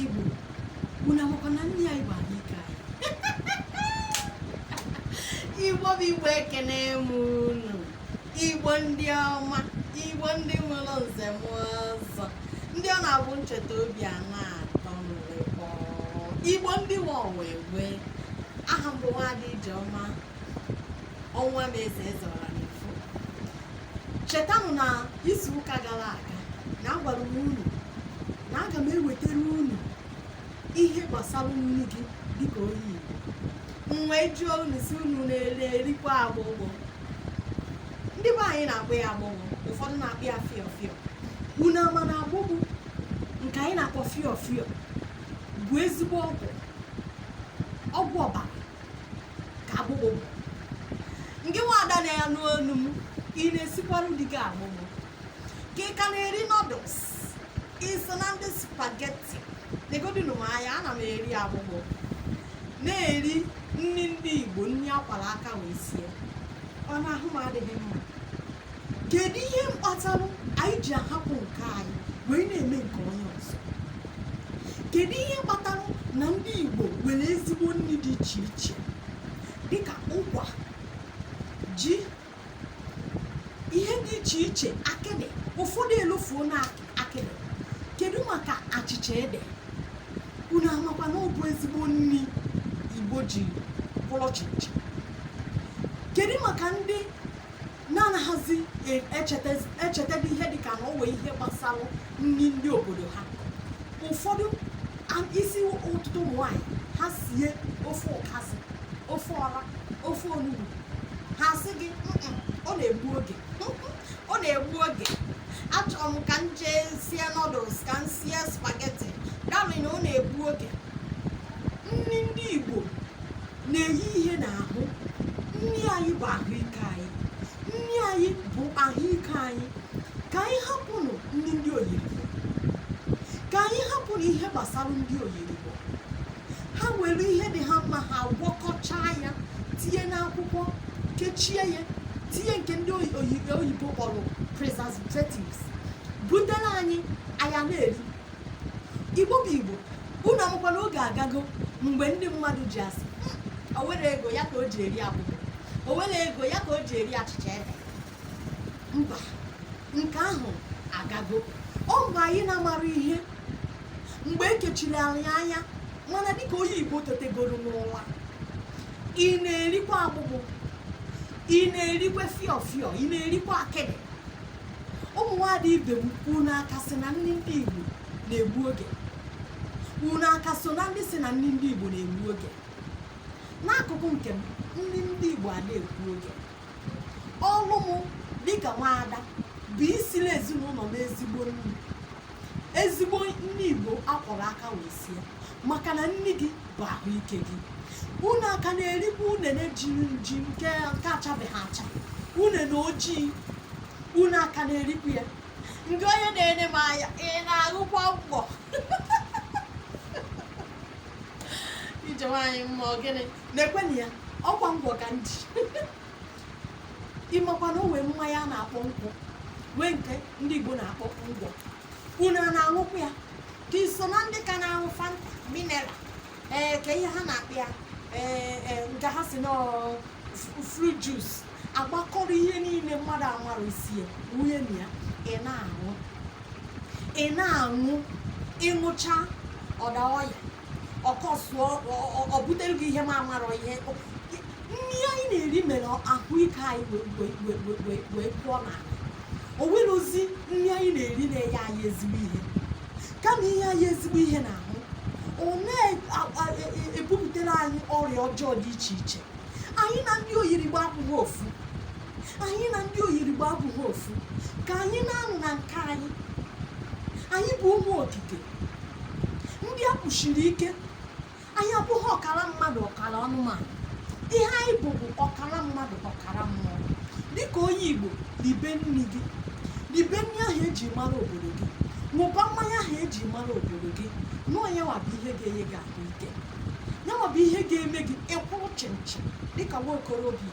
Igbo unu amakwa na nne ya Igbo anyị ka Igbo bụ Igbo ekene m unu Igbo ndị ọma Igbo ndị nwere nze na ọzọ ndị ọ na-abụ m cheta obi a na-atọ m Igbo ndị nwe ọwa egbe aha m bụ nwaada Ijeọma Ọnwụamaeze eze ọra na-efu chetanụ na izu ụka gara aga na agwara m unu na aga m ewetara unu ihe gbasara nri gị dịka onye Igbo m wee jụọ unu sị unu na-eri erikwa agbụgbụ ndị be anyị na-akpọ ya agbụgbụ ụfọdụ na-akpọ ya fịọ fịọ unu ama na agbụgbụ nke anyị na-akpọ fịọ fịọ bụ ezigbo ọgwụ ọgwụ ọbara ka agbụgbụ gịnwa ada na-anụ onu m ị na-esikwaru di gị agbụgbụ ka ị ka na-eri noodles i so na ndị spageti negodinu m anya ana m eri agbụgbụ na-eri nri ndị igbo nri a kwara aka wee sie ọ na ahụ m adịghị mma kedu ihe mkpatalụ anyị ji ahapụ nke anyị wee na-eme nke onye ọzọ kedu ihe kpatara na ndị Igbo nwere ezigbo nri dị iche iche dịka ụkwa ji ihe dị iche iche akịdị ụfọdụ elofuona akịdị kedu maka achịcha ede unu amakwa na ọ bụ ezigbo nri Igbo ji bụrụ chịnchịn kedu maka ndị na-anaghịzi e- echeta- echetebe ihe dịka na o nwe ihe gbasara nri ndị obodo ha ụfọdụ a- ị sị ụfọdụ ụmụ nwaanyị ha sie ofe ụkazị ofe ọra ofe onugbu ha sị gị "Mm-mm, ọ na-egbu oge ọ na-egbu oge achọrọ m ka m jee sie noodles ka m sie spageti garị na ọ na-egbu oge nri ndị igbo na-enye ihe n'ahụ nri anyị bụ ahụike anyị nri anyị bụ ahụike anyị ka anyị hapụnụ nri ndị oyirigbo ka anyị hapụnụ ihe gbasara ndị oyirigbo ha were ihe dị ha mma ha gwọkọchaa ya tinye n'akwụkwọ kechie ya tinye nke ndị oyibo kpọrọ preservatives butere anyị anyị a na-eri igbo bụ igbo unu amakwa na oge agago mgbe ndị mmadụ ji asị hmm, o nwero ego ya ka o ji eri akpụ o nwero ego ya ka o ji eri achịcha ede mba nke ahụ agago ọ mgbe anyị na-amarọ ihe mgbe e kechiri anyị anya mana dịka onye igbo tetegoro n'ụra ị na-erikwa agbụgbụ ị na-erikwa fiọfiọ ị na-erikwa akịdị ụmụ nwaada ibe m unu aka sị na nni ndị Igbo na-egbu oge unu aka so na ndị sị na nni ndị Igbo na-egbu oge n'akụkụ nke m nni ndị Igbo a na-egbu oge ọlụ m dịka nwaada bụ isiri ezinụlọ m ezigbo nni ezigbo nni igbo akwọrọ aka wee sie maka na nni gị bụ ahụike gị unu aka na-erikwa unene jiri nji nke nke achabeghị acha unene ojii unu aka na-erikwa ya ngị onye na-ene m anya ị na-ahụkwa ngwọ ije nwaanyị mma ọ gịnị na-ekwenụ ya ọkwa ngwọ ka m ji ị makwa na o nwee mmanya a na-akpọ nkwụ nwee nke ndị igbo na-akpọ ngwọ unu a na-aṅụkwa ya ka i so na ndị ka na-aṅụ fanta mineral ee ke ihe ha na-akpọ ya ee ee, nke ha sị na fruit juice agbakọrọ ihe niile mmadụ amarọ isi ya wunye na ya ị na-aṅụ ị na-aṅụ ị ṅụcha ọ daa ọya ọkọ sụọ ọ butere gị ihe ma amarọ ihe nri anyị na-eri mere ahụike anyị wee pụọ n'ahụ o nwerọzi nri anyị na-eri na-enye anyị ezigbo ihe kama inye anyị ezigbo ihe n'ahụ ọ na-ebupụtara e, e, e, anyị ọrịa ọjọọ dị iche iche anyị na ndị oyirigbo abụghị ofu anyị na ndị oyirigbo abụghị ofu ka anyị naanụ na nke anyị anyị bụ ụmụ okike ndị a kpụsiri ike anyị abụghị ọkara mmadụ ọkara anụmanụ ihe anyị bụ bụ ọkara mmadụ ọkara mmụọ dịka onye igbo ribe nri gị ribe nri ahụ eji mara obodo gị ṅụba mmanya ahụ eji mara obodo gị na ọ yanwa bụ ihe ga-enye gị ahụ ike yanwa bụ ihe ga-eme gị ị kwụrụ chịmchịm dịka nwa okorobịa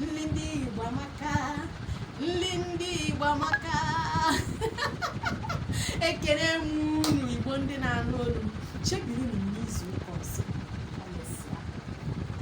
nli ndị Igbo amaka nli ndị Igbo amaka ekele m unu Igbo ndị na-anụ olu m chebirinụ m n'izu ụka ọzọ